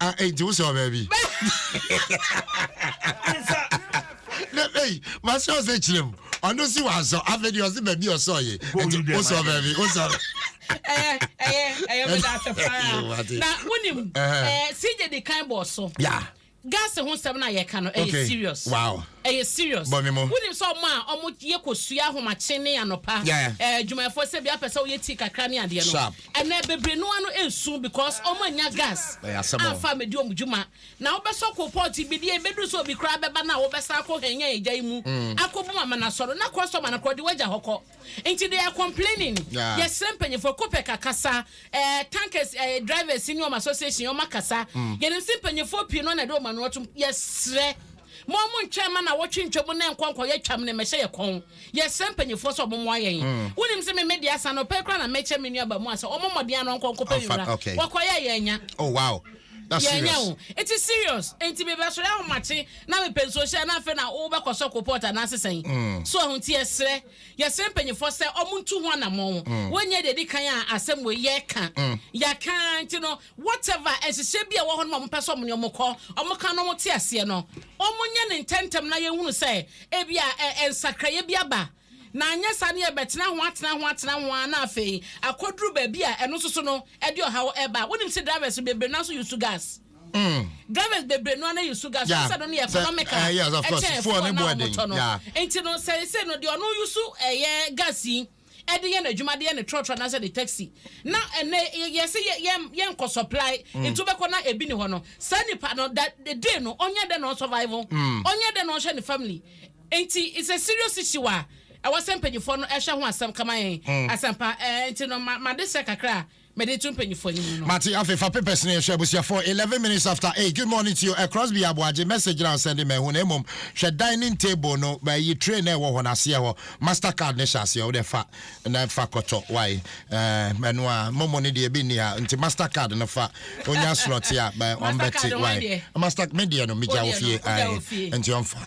Ah, eh, nti wosɛ ɔbaa bi. na ei masɛ ɔsɛ kyerɛ mu ɔno si wasɔ afei deɛ ɔse baabi ɔsɔ ye nti wosɔ ɔbaa bi wosɔ ɛyɛ ɛyɛ ɛyɛ meda ase paa na wonim ɛɛ sigye di kan bɔ so. Yeah gas ho nsɛm no a yɛka no ɛyɛ serious wow ɛyɛ serious wonim sɛ ɔmo a ɔmo yɛ kɔsua ahomakye ne anɔpa adwumayɛfoɔ sɛ bia pɛ sɛ woyɛ tii kakra ne adeɛ no Ɛnɛ bebree no ano nsu because ɔmo annya gas amfa ammedi ɔmo dwuma. Na wobɛsɔ kolpɔt bi deɛ ɛbɛduru sɛ obi koraa bɛba no a wobɛsan akɔ hɛnyan egya yi mu akɔbu ma ma no asɔ no na kɔ sɔ ma no kɔ de w'agya hɔ kɔ. Nti they are complaining. Yɛsrɛ mpanyinfoɔ, Copec akasa, eh, tankers eh, drivers ne wɔn association wɔn akasa. Yɛnim se mpanyinfoɔ pii no na ɛde wɔn ano atom. Yɛsrɛ mo a mo ntwɛn ma nawɔtwe ntwam na ɛnkɔ nkɔyɛ twam no mmɛhyɛ yɛ kɔn. Yɛsrɛ mpanyimfoɔ sɛ wɔmmoa yɛn. Wonim sɛ me me deɛ asa anɔpa yi koraa na merekyɛ me nua abaamua sɛ ɔmmɔ mmɔden ara na ɔnkɔ nkɔpɛ me wura. Ɔkɔeɛ a, yɛannya. Oh wow! That's serious. Yɛannya o. Eti serious. Enti mebɛsɔre ahomakye na mepɛ nsuo hyɛ a na afei na wobɛkɔ sɔko pot anaase sɛn? So ahu? Nti yɛsrɛ, yɛsrɛ mpanyimfoɔ sɛ wɔntu ho anamɔn. Woanyɛ deɛ ɛdi kan a asɛm wei yɛreka. Yɛaka ara nti no, Whatever nhyehyɛe bi a ɛwɔ hɔ no ma wɔpɛ sɛ wɔne wɔn kɔ, wɔka na wɔte aseɛ no, wɔnyɛ no ntɛmntɛm na yɛnhunu sɛ ebia ɛ, nsakraeɛ bi aba. Na anyɛ saa no yɛbɛtena ho atena ho atena ho ara na afei akɔduru baabi a ɛno nso so no ɛde ɔhaw ba. Wonim sɛ drivers bebree no ara nso use gas. Drivers bebree no ara na use gas. Wohu Yeah, sɛ ɛno no yɛ sɛ, economic a eh, yes, of course, ɛkyɛn fuel fuel no no a bo yɛ den. wɔtɔ no. Yeah. Nti no sɛ ɛsɛ no deɛ ɔno use ɛyɛ gas yi. de yɛ n'adwuma de yɛ ne trɔtrɔ anaasɛ ne taxi na ɛnɛ yɛsi yɛ yɛ yɛn kɔ supply mm. nti wobɛkɔ na ebi ni hɔ no saa nipa no da day no ɔnyɛ dɛ na ɔsurvive mm. ɔnyɛ dɛ na ɔhwɛ ne family nti it's a serious issue a ɛwɔ sɛ mpanyinfoɔ no ɛhwɛ ho asɛm kama yɛn mm. asɛmpa ɛɛ nti no ma ma de sɛ kakra. Mede to mpanyinfoɔ anim no. Mate afei fa papers no yɛhwɛ abusuafoɔ eleven minutes after eight good morning to you ɛ Crosby Aboagye message na ɔsɛn de mahu na mmom hwɛ dining table no mayi tray na ɛwɔ hɔ no aseɛ hɔ master card no hyɛ aseɛ wode fa na fa kɔtɔ wae ɛɛ ɛno a momo no deɛ ebi nni ha nti master card no fa onya slot a bɛ ɔmbɛte wae master me deɛ no megya wɔ fie ae nti ɔmfa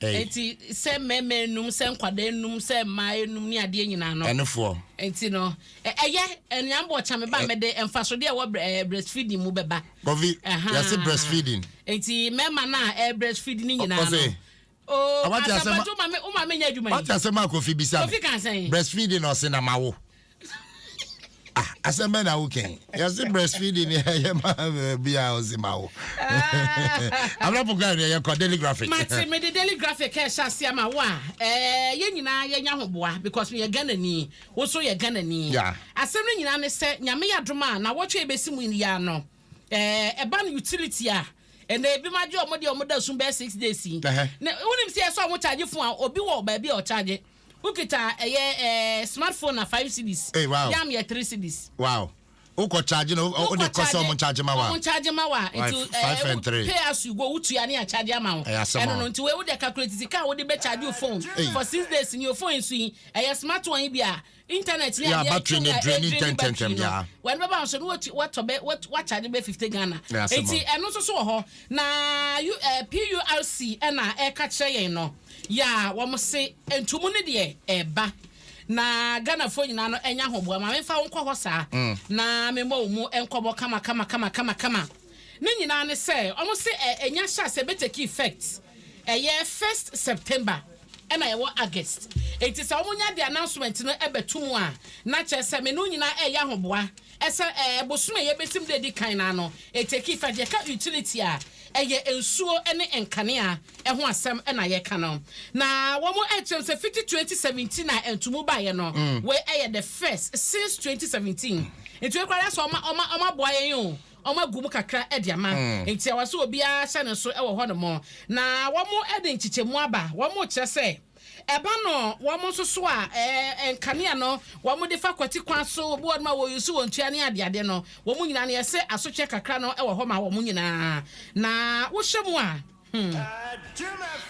Ei. Enti sɛ mmarima anum, sɛ nkwadaa anum, sɛ mmaa anum ne adeɛ nyinaa no. Ɛnefoɔ. Enti no, ɛ, ɛyɛ, anuanom bɔ ɔkyame ba a mede mfasodeɛ a ɛwɔ brɛ, ɛɛ, breastfeeding mu bɛba. Kɔfi, Ɛhaa. yɛse breastfeeding. Enti mmarima no a ɛrebreastfeed no nyinaa no. Ɔse. Oo, Awate asɛm a. Asafo Adwo, wo maame, wo maame nyɛ adwuma yi? Wate asɛm a Kɔfi bisa no? Kɔfi kaa sɛn? Breastfeeding na ɔse na mawo. ah asɛm bɛ na woka yi yɛse breastfeeding ne ɛyɛ ma bia ɔse ma wo abrapɔ kora ne yɛkɔ daily graphic mate mede daily graphic ɛhyɛ ase ama wo a eh, yɛ nyinaa yɛnya ho boa because meyɛ ghanani wo so yɛ ghanani asɛm no nyinaa ne sɛ nyame yɛ adom a na wɔtwe yɛbɛsi mu yɛ ano Ɛba no utility a ɛnɛ ebi mo agye ɔmo deɛ ɔmo da sum bɛyɛ six days yi na wonim sɛ ɛsɛ ɔmo charge phone a obi wɔ baabi a ɔcharge wokita ɛyɛ ɛɛ smart phone a five cedis yam yɛ three cedis. Wow wokɔ charge no wode kɔ sɛ ɔmo charge ma wa ɔmo charge ma wa nti ɛɛ pay as you go wotua ne yɛ charge ama wo ɛno no nti wei wode calculate sika a wode bɛ charge wo phone for six days ni o phone yi so yi ɛyɛ smart one yi bi a internet ni adeɛ battery ne drain ne ntɛntɛntɛm ya wɔn bɛba ahosuo no wɔtu wɔtɔ bɛ wɔtu wɔakyade bɛ fifty ghana nti ɛno nso so wɔ hɔ na u ɛɛ purc ɛna ɛka kyerɛ yɛn no ya wɔn se ntumu ne deɛ ɛɛba na ghanafoɔ nyinaa no ɛnya ahoboa maame nfa wɔn kɔ hɔ saa na memmɔ wɔn mu nkɔmɔ kama kama kama kama kama. Ne nyinaa ne sɛ ɔmo se ɛ nya hyɛ aseɛ bɛ take effect ɛyɛ first September ɛna yɛwɔ August nti sɛ ɔmo nya de announcement no ɛbɛ to mu a na kyerɛ sɛ me ne wo nyinaa ɛyɛ ahoboa ɛsɛ ɛ bosom a yɛbɛsim da edi kan no ano ɛ take effect yɛka utility a ɛyɛ nsuo ɛne nkanea ɛho asɛm ɛna yɛka no na wɔmo ɛkyerɛ mu sɛ fiti twenty seventeen a ntomu baeɛ no wei ɛyɛ the first since twenty seventeen nti wei koraa yɛ sɛ ɔmo ɔmo ɔmo aboa yɛn o. wɔagu mu kakra de ama enti ɛwɔ sɛ obiara hyɛ ne so wɔ hɔnom, na wɔde nkyekyɛmu aba, wɔkyerɛ sɛ ɛba no wɔn nso so a nkanea no wɔde fa kwati kwan so, obi wɔ nom a wɔyi so wɔn tua ne adeade no, wɔn nyinaa no yɛsɛ asotwɛ kakra no wɔ hɔ ma wɔn nyinaa, na wohyɛ mu a. Hmm.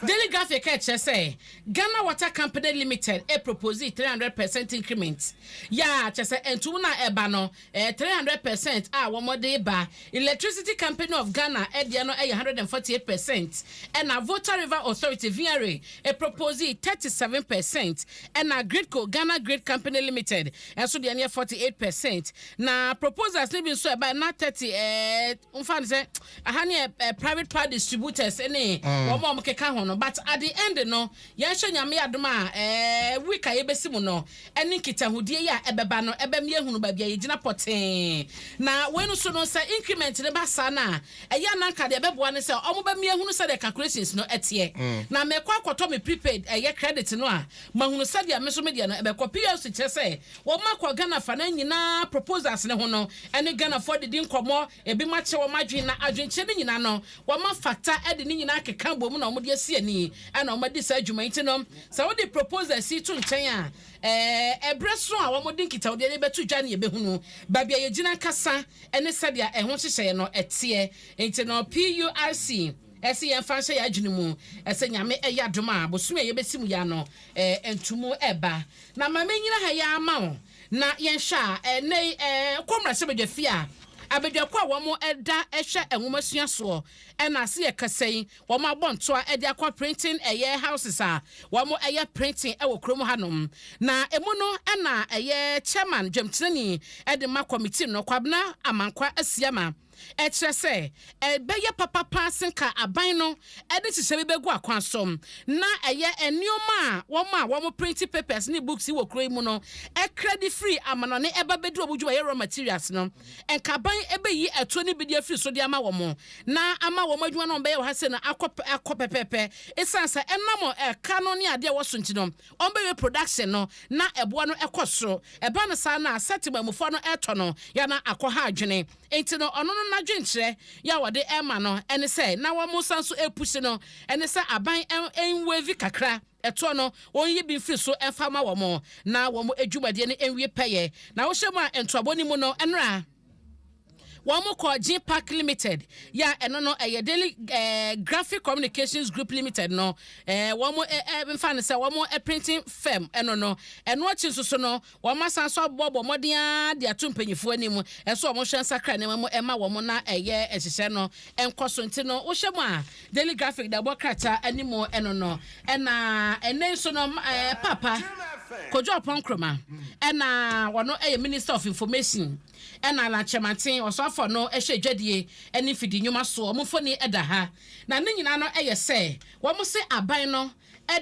Daily Graphic ɛkyerɛ sɛ Ghana Water Company Limited ɛproposee three hundred percent increment. Yaa kyerɛ sɛ ntom no a ɛba no ɛyɛ three hundred percent a wɔde ba. Electricity Company of Ghana ɛdeɛ no ɛyɛ one hundred and forty eight percent. Ɛna Volta River Authority, VRA, ɛproposee thirty seven percent. Ɛna Gridco, Ghana Grid Company Limited, nso deɛ no yɛ forty eight percent. Na proposals no bi nso a ɛbaeɛ no na thirty ɛɛ. Momfa no sɛ aha no yɛ private part distributors ne wɔn a wɔkeka ho no, but at the end no, yɛnhwɛ Nyame adom a week a yɛbɛsi mu no ne nkitahodie yi a ɛbɛba no ɛbɛma yɛahunu baabi a yɛgyina pɔtee. Na wei no nso no, sɛ increment no ba saa no a, ɛyɛ a na anka deɛ ɛbɛboa ne sɛ wɔbɛma yɛahunu sɛdeɛ calculations no teɛ. Na mɛkɔ akɔtɔ me prepaid ɛyɛ credit no a mahunu sɛdeɛ me nso me deɛ no ɛbɛkɔ. PLC kyerɛ sɛ Wɔma kɔ Ghana afanan nyinaa proposals no ho no ɛne Ghanafoɔ didi nkɔmmɔ, ebinom akyerɛ wɔn adwene na adwenkyerɛ no nyinaa no wɔma fata de ne nyinaa akeka bom na wɔde asi ani na wɔn adi saa dwuma yi nti no sɛ wode proposals yi to nkyɛn a ɛɛ berɛ so a wɔde nkitawodie no rebɛto dwa no yɛbɛhunu baabi a yɛgyina ankasa ne sɛdeɛ ɛho nhyehyɛeɛ no ɛteɛ nti no PURC ɛsɛ yɛmfa nhyɛ yɛn adwene mu ɛsɛ Nyame ɛyɛ adom a bosome a yɛbɛsi mu yi ano ɛɛ ntomu ɛba Na ma mennyina ha yi ara mma wo, na yɛnhwɛ a, ɛnnɛ yi, kɔ mmarahyɛbadwafie a abadwako a wɔda hwɛ nwomasua soɔ na ase yɛ kɛse yi, wɔabɔ ntoa de akɔ printing ɛyɛ houses a wɔyɛ printing wɔ kurom hanom. Na ɛmu no na ɛyɛ Chairman dwamtenani de ma committee no, Kwabena Amankwa Asiamah. Ɛkyerɛ sɛ, ɛbɛyɛ papa paa sen ka aban no de nhyehyɛe bi bɛgu akwan so na ɛyɛ nneɛma a wɔn a wɔprente papers ne books wɔ kurow yi mu no kra de firi amannɔne ba bedu wɔn dwumayɛ raw materials no. Anka aban beyi atuo ne bidi afiri so de ama wɔn na ama wɔn adwuma no a wɔbɛyɛ wɔ ha sei no akɔ akɔ pɛpɛɛpɛ. Esiane sɛ ɛnam ɛka no ne ade a ɛwɔ so nti no, wɔbɛwie production no na ɛboɔ no kɔ soro. Ɛba no saa no a, sɛ temammufoɔ no retɔ no, yɛ a na akɔha adwene. Enti no ɔno no nadwenkyerɛ yɛ a wɔde ɛma no ɛne sɛ na wɔn nsa nso ɛpushi no ɛne sɛ aban ɛnwavi kakra ɛtoɔ no wɔn nyi bi mfiri so ɛmfa ma wɔn na wɔn adwumadeɛ no ɛnwie pɛyɛ na wohyɛ mu a ntoabɔ no mu no ɛnora wɔn kɔ Gene Park Limited yɛ a ɛno no ɛyɛ Daily eh, Graphic Communications Group Limited no eh, wɔn eh, eh, mfa no sɛ wɔn eh, printing firm ɛno no ɛno akyi nso so no Wɔasan nso aboaboa mmɔden ara de ato mpanyimfo anim sɛ wɔnhwɛ nsakra nneɛma mu mma wɔn na ɛyɛ nhyehyɛe no nkɔ so. Nti no, wohyɛ mu a, Daily Graphic de ɛbɔ krataa anim no no. Ɛna ɛnnɛ yi nso no, Paapa Kojo Oppong Nkrumah, ɛna ɔno yɛ Minister of Information, ɛna Alan Kyerematen, Ɔsoafoɔ no hyɛ dwadie ne mfidi nnwuma soɔ. Wɔn mfoni da ha. Na ne nyinaa no yɛ sɛ wɔn se aban no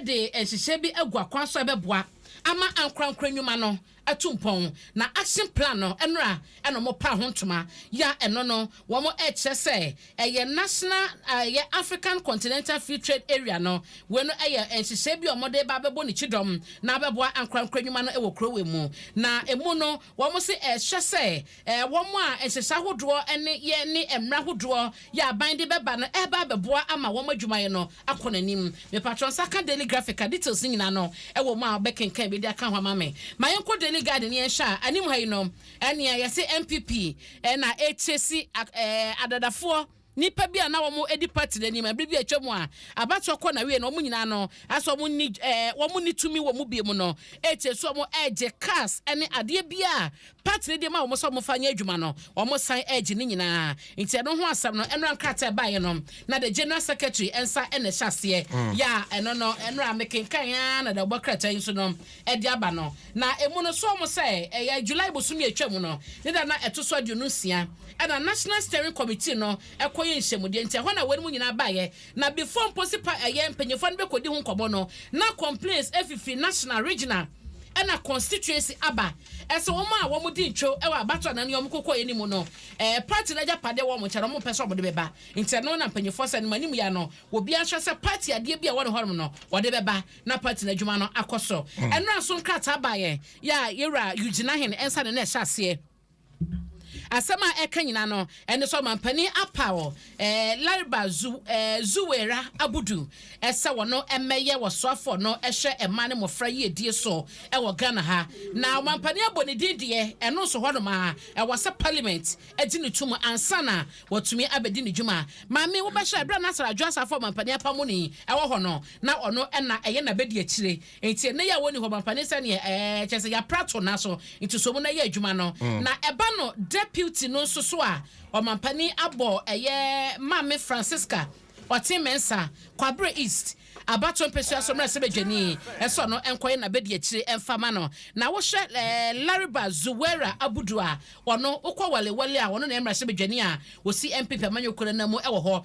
de nhyehyɛe bi agu akwan so a ɛbɛboa ama ankorankoro nnwuma no atu mpɔn, na action plan no nnora na wɔpaa ho ntoma yɛ a ɛno no wɔrekyerɛ sɛ ɛyɛ national ɛyɛ African Continental Free Trade Area no. Wei no yɛ nhyehyɛe bi a wɔde reba abɛbɔ ne kyidɔm na abɛboa ankorankoro nnwuma no wɔ kurow yi mu, na emu no Wɔn se ɛhyɛ sɛ wɔn a nhyehyɛ ahodoɔ ne yɛ ne mmra ahodoɔ yɛ aban de bɛba no ɛba abɛboa ama wɔn adwumayɛ no akɔ n'anim. Mepatrɔ nsa ka Daily Graphic a details no nyinaa no ɛwɔ mu a wobɛ kenkan bi de aka ho ama me. Ma yɛn kɔ Daily Guide no yɛn hwɛ a anim ha yi no ɛnea yɛse NPP na ɛkyɛ si adadafoɔ Nnipa bi a na wɔadi pati no anim bere bi a atwam a abatoɔ kɔ n'awiei no, wɔn nyinaa no, asɛ wɔn nni eh, wɔn nni tumi wɔ mu biom no, ekyir so wɔn regye cars ne adeɛ bi a pati no de ma wɔn sɛ wɔn fa nyɛ adwuma no, wɔn san regye ne nyinaa. Nti ɛno ho asɛm no, mmra nkrataa ɛbaeɛ no, na the General Secretary nsa na ɛhyɛ aseɛ. Ya ɛno no, mmra mekenkan ara na da bɔ krataa yi nso no, de aba no, na emu no sɔɔ mu sɛ ɛyɛ July bosome a etwaam no ne da no a ɛto so aduonu nsia na National Steering Committee no kɔyɛɛ nhyiamudeɛ nti ɛhɔ na wɔnom nyinaa baeɛ na before mpo se pa ɛyɛ mpanyinfoɔ no bɛkɔdi ho nkɔmmɔ no na complains fifiri National, Regional ɛna Constituency aba sɛ wɔn a wɔn di ntwo wɔ abatoɔ anaa nea wɔn kɔkɔeɛ no mu no party no agyapadeɛ wɔ wɔn nkyɛn na wɔn mpɛ sɛ wɔde bɛba nti ɛno na mpanyinfoɔ sɛ anim anim yɛ no obiara nhyɛ sɛ party adeɛ bi a ɛwɔ ne hɔnom no wɔde bɛba. na party no adwuma no akɔ so. Ɛnora nso nkrataa baa yɛn yɛ a Yɛwura Eugene Ahen nsa ne na ɛhyɛ aseɛ. Asɛm a ɛka nyina no ɛne sɛ ɔmampanin apaw eh, Lariba Zu, eh, Zuwaira Abudu eh, sɛ wɔno mmɛyɛ wɔsoafoɔ no ɛhwɛ mmaa ne mmɔfra yiedie so ɛwɔ eh, Ghana ha. Na ɔmampanin abɔ ne din deɛ ɛno nso hɔ nom a ɛwɔ sɛ Parliament agye ne tum ansa na watumi abɛdi ne dwuma. Maame wobɛhyɛ berɛ a Nasser Adwoa Sarfo ɔmampanin apamo ni ɛwɔ hɔ no. na ɔno na ɛyɛ n'abɛdi akyire nti ɛnɛ yɛ a wɔnni hɔ mampanin sɛdeɛ ɛɛ kyɛ sɛ yɛapra to na so nti so mu na yɛ adwuma no na ɛba no deputy no nso so a ɔmampanin abɔ ɛyɛ maame Francisca ɔte mɛnsa kwabrɛ east abato mpɛsua so mmerɛ sɛ bɛdwani ɛsɛ ɔno nkɔyɛ n'abɛdi akyire ɛmfa ma no na wohwɛ ɛɛ Lariba Zuwera Abudu a ɔno wokɔ wale wale a ɔno na ɛmmerɛ sɛ bɛdwani a wɔsi MPP amanyɔkuo no mu ɛwɔ hɔ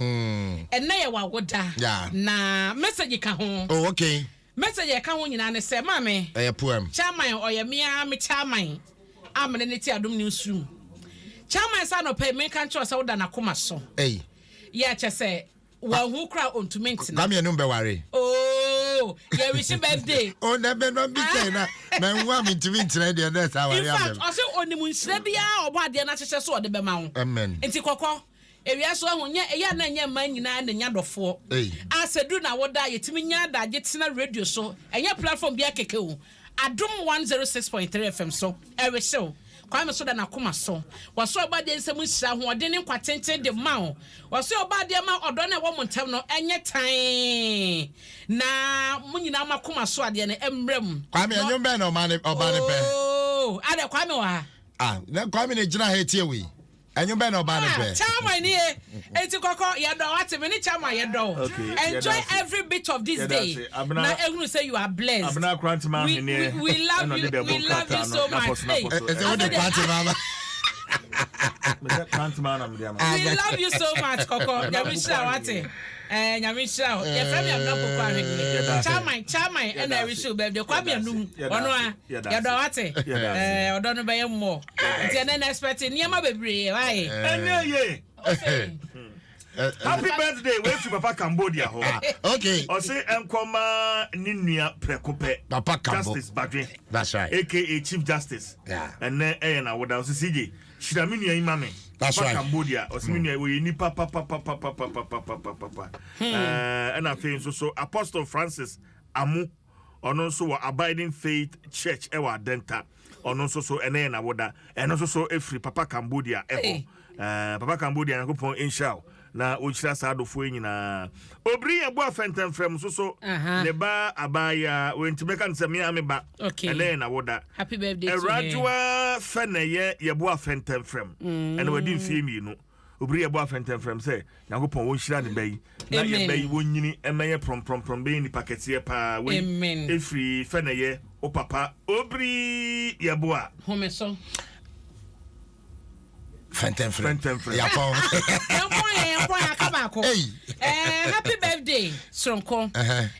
Ɛnnɛ yɛ w'awoda na message ka ho. Oh okay. Message a ɛka ho nyinaa ne sɛ maame. Ɛyɛ poem. Chairman ɔyɛ me ara me chairman a me ne no te Adom Newsroom. Chairman saa anɔpa yi menka nkyerɛ wo sɛ woda n'akoma so. Ei. Yeah kyɛ sɛ wanhu koraa a ɔntumi ntena. Kwame anum bɛware. Ooh yɛ wish birthday. Oh na bɛ na bi kyɛn na manhu a mentumi nkyerɛ deɛ nurse aware abɛm. In fact ɔse ɔnim nhyira biara a ɔbɔ adeɛ no ahyehyɛ so ɔde bɛma wo. Amen. Nti kɔkɔ. Ewia so ahu nyɛ eyɛ a na nyɛ mmaa nyinaa na nya dɔfoɔ a sɛ duru na woda a yɛtumi nya adagye tena radio so ɛnyɛ platform biara kɛkɛ o Adom 106.3 FM so ɛrehyew Kwame so da n'akoma so wɔso ɔbɔadeɛ nsam nhyira ahoɔden ne nkwa tenten de ma wo wɔso ɔbɔadeɛ ma ɔdɔ no ɛwɔ mo ntam no ɛnyɛ tan na mo nyinaa mo akoma so adeɛ no ɛmmra mu Kwame ɛnwom bɛn na ɔma ne ɔba ne pɛ ooo adɛ Kwame wɔ ha ah Kwame ne gyina ha etie wei Ɛnwo bɛn na ɔbaa no brɛ. Chairman ni ye enti kɔkɔ yɛdɔ wate me ne chairman yɛdɔ wo enjoy every bit of this day na ehunu sɛ you are blessed we we love you we love you so much hey ɛsɛ wo de party mama we love you so much kɔkɔ nyame hyira wate. Ɛɛ Nyame nhyira wo. Yɛfrɛ me Amina Opoku Ahweneɛ. Yɛda ase. Chairman, Chairman ɛna Yɛda ase. ɛrehyɛ wo birthday. Kwame Yɛda ase. Anum, Yɛda ɔno ase. ara. Yɛda ase. Yɛdɔ wo ate. Yɛda ase. Ɛɛ ɔdɔ no bɛyɛ more. Yɛda Nti ase. ɛnɛ na expect nneɛma bebree. Why? Ɛnyɛ yie. Ose. Ɛ- ɛ- Happy birthday wei fi papa Cambodia hɔ. Ah, okay. Ɔse ɛnkɔma ne nua prɛko pɛ. Papa Kambo. Justice Badwe That's right. aka Chief Justice. Yeah. Ɛnɛ ɛyɛ n'awoda. Ɔse CJ Hyira me nua yi ma me. That's right. Cambodia. Ɔsi me hmm. nua oyɛ nipa papapapapapapapapapa. Hmm. Eh, ɛna afei nso so Apostle Francis Amu ɔno nso wɔ Abiding Faith Church ɛwɔ Adenta. Ɔno nso so ɛnɛ yɛ n'awoda. Ɛno nso so efiri Papa Cambodia ɛhɔ. Eh, Papa Cambodia Nyankopɔn nhyira o. Na ɔnhyira saa adɔfoɔ yi nyinaa. Obiri yɛn boa fɛntɛmfrɛm nso so. Ne ba abaayaa wei nti mɛka no sɛ me ara me ba. Ɛnɛ yɛ n'awoda. Awuradwoa Fɛnɛyɛ yɛ boa fɛntɛmfrɛm. Mm. Ɛnna wadi mfeɛ mmienu. Obiri yɛ boa fɛntɛmfrɛm sɛ Nyankopɔn wɔnhyira ne ba yi. Na yɛ ba yi wɔnyini mmɛyɛ prɔmprɔmprɔm bɛyɛ nipa kɛseɛ paa. Wei ɛfiri Fɛnɛyɛ wo papa Obiri yɛ boa. Home so. fɛntɛnfrɛ fɛntɛnfrɛ yakɔ nkɔ yɛ nkɔ yɛ aka baako ɛɛ eh, happy birthday soronko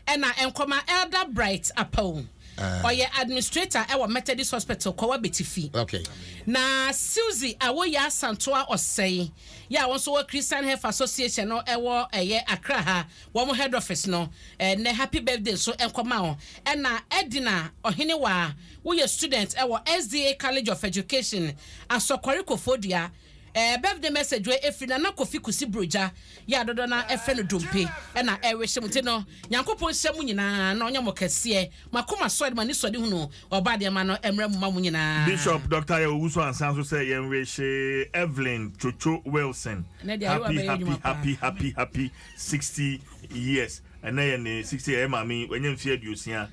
ɛna nkɔma elder bright apawu ɔyɛ eh. administrator ɛwɔ methodist hospital kɔwa betifi okay. na suzy awoyɛ asantoa ɔsɛe yɛ a wɔn nso wɔ christian health association no ɛwɔ ɛyɛ akra ha wɔn head office no ɛnɛ eh, happy birthday nso nkɔma wɔn ɛna ɛdina ɔhene waa. Woyɛ student ɛwɔ SDA College of Education, Asɔkware Kofodua. Ɛɛ birthday message wei ɛfiri Nana Kofi Kusi Brogya, yɛ a dodoɔ no ara ɛfrɛ no Dompe, ɛna ɛrehyɛ mo. Nti no Nyankopɔn nhyira mo nyinaa na ɔnyɛ mo kɛseɛ. Mo akoma sɔ de mo ani sɔ de hunu Ɔba Adeɛma no ɛmmra mu ma mo nyinaa. Bishop Doctor Yaw Owusu ansa nso sɛ yɛn wehye Evelyn Twotwo Wilson Ɛnɛ deɛ ayewa happy bɛyɛ happy adwuma paa. happy happy happy sixty years ɛnɛ yɛ ne sixty yɛ yɛ maame yi wanya mfeɛ aduosia.